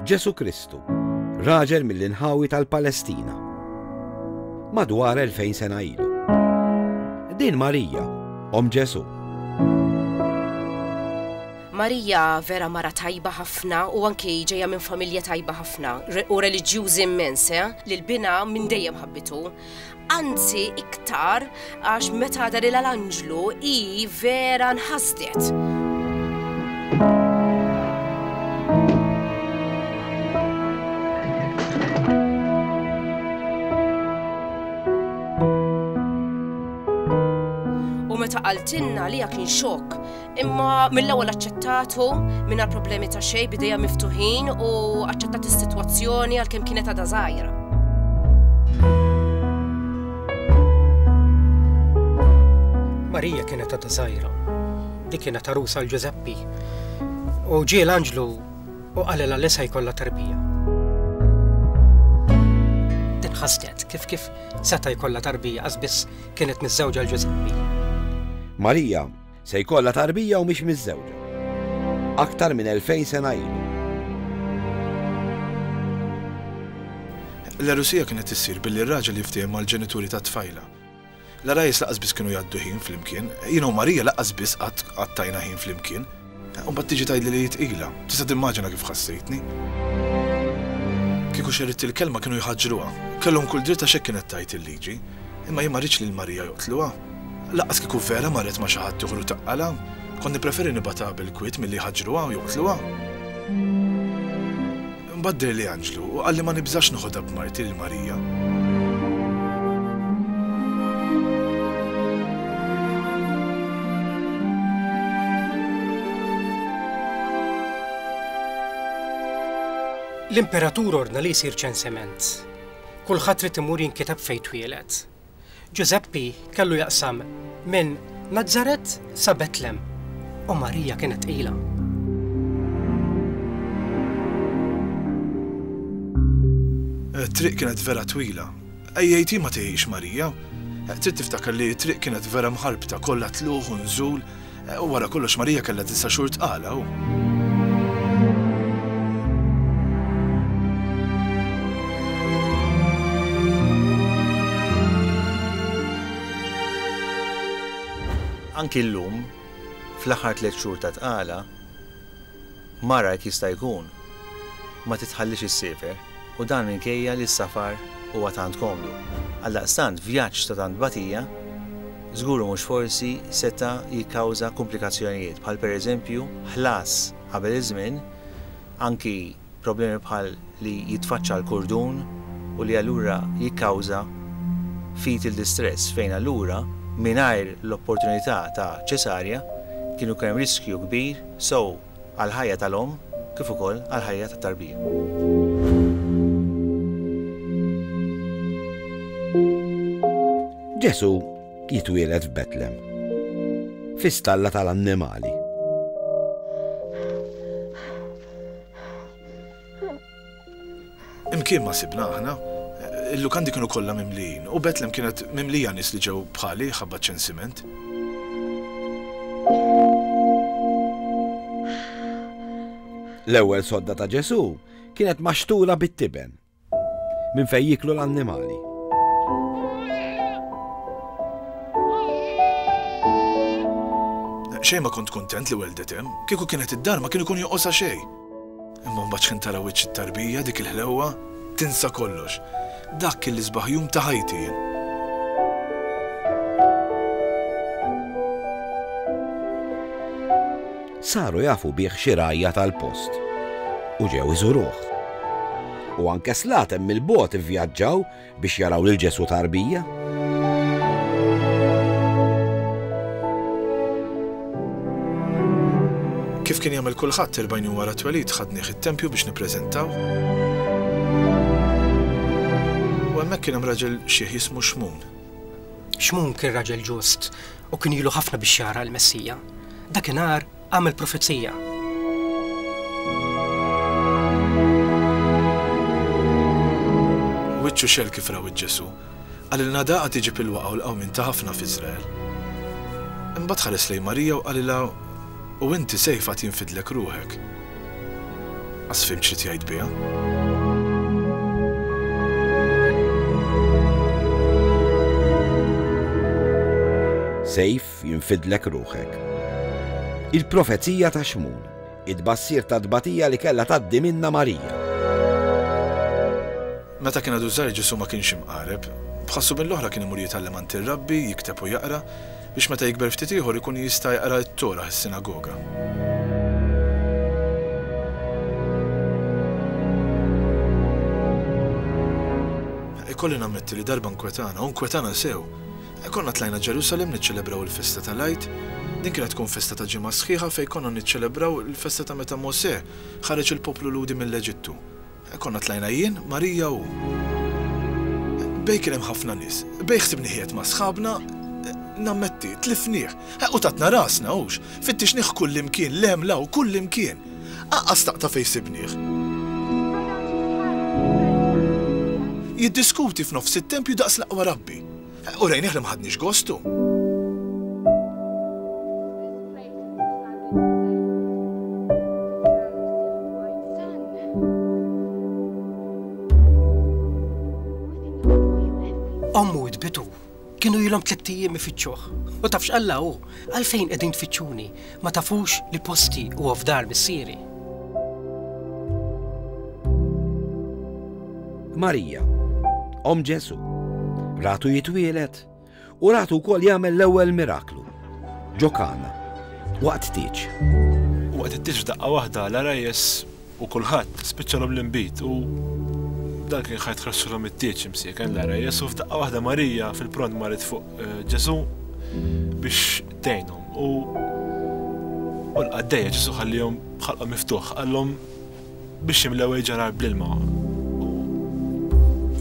Ġesu Kristu, raġel mill-inħawi tal-Palestina. Madwar 2000 sena ilu. Din Marija, om Ġesu. Marija vera mara tajba ħafna u anki ġeja minn familja tajba ħafna u reliġjużi immens, eh? li l-bina minn dejjem ħabbitu. Anzi iktar għax meta darilha l-anġlu hi vera nħasdet. qaltilna li kien xokk Imma mill-ewwel aċċettatu mingħajr problemi ta' xejn bidejja miftuħin u aċċettat is-sitwazzjoni għalkemm kienet għadha żgħira. Marija kienet għadha żgħira. Dik kienet għarusa għal Ġużeppi. U ġie l-anġlu u qalilha li se jkollha tarbija. Din ħasdet kif kif seta' jkollha tarbija għaż biss kienet miżżewġa l-Ġużeppi. Marija Se jkollha tarbija u mhix miżżewġa. Aktar minn 2000 sena ilu. L-għerusija kienet issir billi r-raġel jiftiehem mal-ġenituri tat-tfajla. L-għarajjes lanqas biss kienu jgħaddu ħin flimkien, jiena u Marija lanqas biss qatt qattajna ħin flimkien. Imbagħad tiġi tgħidli li hi tqila. Tista' timmaġina kif ħassejtni. Kieku xerridt il-kelma kienu jħaġġruha. Kellhom kull dritt għax hekk kienet tgħid il-liġi. Imma jien ma rridx lil Marija joqtluha. Lanqas kieku Vera marret ma' xi ħaddieħor u taqqalha. Kont nippreferi nibgħatha bil-kwiet milli jħaġġruha u joqtluha. Imbagħad deherli anġlu u qalli ma nibżax noħodha b'marti lil Marija. L-Imperatur ordna li jsir ċensiment. Kulħadd irid imur jinkitab fejn twieled. Ġużeppi kellu jaqsam minn Nazaret sa Betlem u Marija kienet tqila. It-triq kienet vera twila. Ejjejti ma tejjiex Marija. Trid tiftakar li t-triq kienet vera mħarbta kollha tlugħ u nżul. U wara kollox Marija kellha disa' xhur tqala u. Anki llum, fl-aħħar tliet xhur ta' tqala, Mara jekk jista' jkun ma titħallix issiefer u dan minkejja li s-safar huwa tant komdu. Għaldaqstant vjaġġ ta' tant tbatija żgur u mhux forsi seta' jikkawża kumplikazzjonijiet bħal pereżempju ħlas qabel iż-żmien anki problemi bħal li jitfaċċa l-kurdun u li allura jikkawża fetal distress fejn allura mingħajr l-opportunità ta' ċesarja kien ikun hemm riskju kbir sew għall-ħajja tal-omm kif ukoll għall-ħajja tat-tarbija. Ġesù jitwieled f'Betlem, fi stalla tal-annimali. Imkien ma sibna aħna, il-lukandi kienu kollha mimlijin u Betlem kienet mimlija nies li ġew bħali ħabba ċensiment. L-ewwel sodda ta' Ġesu kienet maxtula bit-tiben Minn fejn jiklu l-annimali. Xejn ma kont kuntent li weldet hemm, kieku kienet id-dar ma kien ikun joqosha xejn. Imma mbagħad x'ħin tara wiċċ it-tarbija, dik il-ħlewwa, tinsa kollox. Dak kien l-isbaħ jum ta' ħajti jien. Saru jafu bih xi rgħajja tal-post u ġew iżuruh. U anke slaten mill-bogħod ivvjaġġaw biex jaraw lil Ġesù tarbija. Kif kien jagħmel kulħadd erbgħin jum wara t-twelid ħadnieh it-tempju biex nippreżentaw. U hemmhekk kien hemm raġel xiħ jismu Xmun. Xmun kien raġel ġust, U kien ilu ħafna biex jara l-Messija. Dakinhar għamel profezija. wiċċu xel kif raw ġesu għalilna daqa tiġi pilwa għaw l-għaw minn ta' ħafna f'Izrael. Imbagħad ħares lej Marija u għalilha u inti sejfa tinfidlek ruħek. As fhimt xi tgħid biha. Sejf jinfidlek ruħek. Il-profezija ta' xmun, id-bassir ta' tbatija li kellha tgħaddi minna Marija. Meta kien għadu żgħir Ġesù ma kienx imqareb. B'ħassu mill-oħra kien imur jitgħallem għand ir-Rabbi, jikteb u jaqra. biex meta jikber ftit ieħor ikun jista' jaqra t-Torah, is-sinagoga. Ikolli nammetti li darba nkwetana, u nkwetana sew. E konna tlajna Ġerusalem niċċelebraw il-festa tal-Għid. Din kienet tkun festa ta' ġimgħa sħiħa fejn konna niċċelebraw il-festa ta' meta Mosè ħareġ il-poplu Lhudi mill-Eġittu. Konna tlajna jien, Marija u. Bej kien hemm ħafna nies. Bej ħsibni qiegħed ma' sħabna, nammetti, tlifnih. U tatna rasna, hux? Fittixnih kullimkien, l-għemla u kullimkien. Aqqa staqta fejn sibnih. Jiddiskuti f'nofs it-tempju daqs l-aqwa rabbi. Urejnih li ma ħadniex gostu. kienu jilhom tlitt ijiem ifittxuh. U tafx Alla hu, għalfejn qegħdin tfittxuni? Ma tafux li posti huwa f'dar missieri? Marija, Om Ġesu, ratu jitwielet u ratu wkoll jagħmel l-ewwel miraklu. Ġokana, waqt tiġ. Waqt it-tiġ daqqa waħda l-arajjes U kulħadd spiċċalhom l-inbid u dan kien ħa jitħraxxilhom it-tieġ imsieken l-għera Jesu f'daqqa waħda Marija fil-pront marit fuq eh, Ġesu biex tgħinhom. U u l-qaddejja Ġesu ħallihom ħalqhom miftuħ qallhom biex jimlew il-ġarar bl-ilma.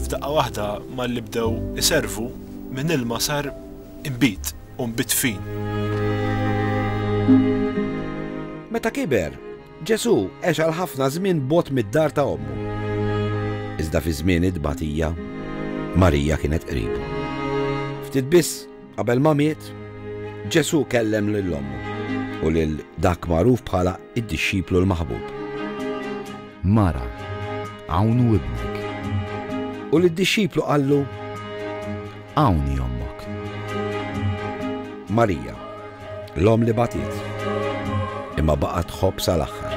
F'daqqa waħda malli bdew iservu minn ilma sar imbid u mbid fin. Meta kiber, Ġesù għex għal ħafna żmien bogħod mid-dar ta' ommu. Iżda fi żmien it-tbatija, Marija kienet qribu. Ftit biss qabel ma miet, Ġesù kellem lil ommu u lil dak magħruf bħala id-dixxiplu l-maħbub. Mara, hawn hu ibnek. U lid-dixxiplu qallu, Hawn hi ommok. Marija, l-omm li bagħtiet, imma baqgħet tħobb sal-aħħar.